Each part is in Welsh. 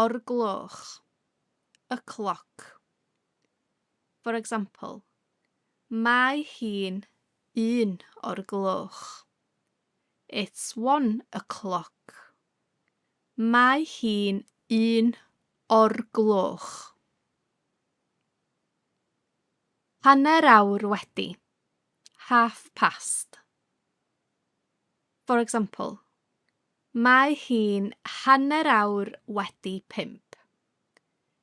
o'r gloch, y cloc. For example, mae hi'n un o'r gloch. It's one o'clock. Mae hi'n un o'r gloch. Hanner awr wedi. Half past. For example, Mae hi'n hanner awr wedi pump.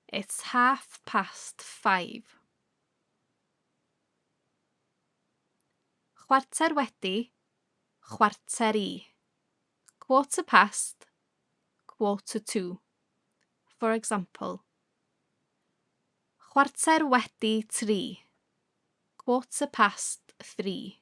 It's half past five. Chwarter wedi, chwarter i. Quarter past, quarter to. For example, Chwarter wedi tri. Quarter past three.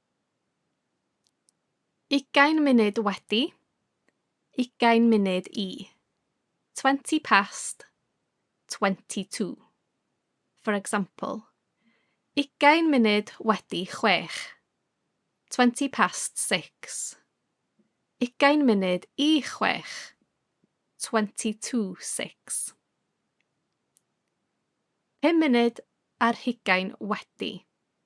Ugain munud wedi, ugain munud i. Twenty past, twenty to. For example, ugain munud wedi chwech. Twenty past six. Ugain munud i chwech. Twenty to six. Pum munud ar hugain wedi.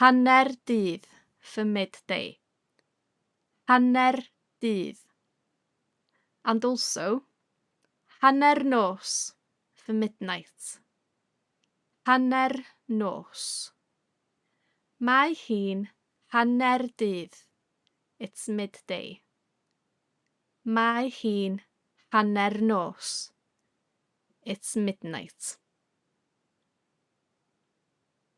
Hanner dydd, for midday. Hanner dydd. And also, hanner nos, for midnight. Hanner nos. Mae hi'n hanner dydd. It's midday. Mae hi'n hanner nos. It's midnight.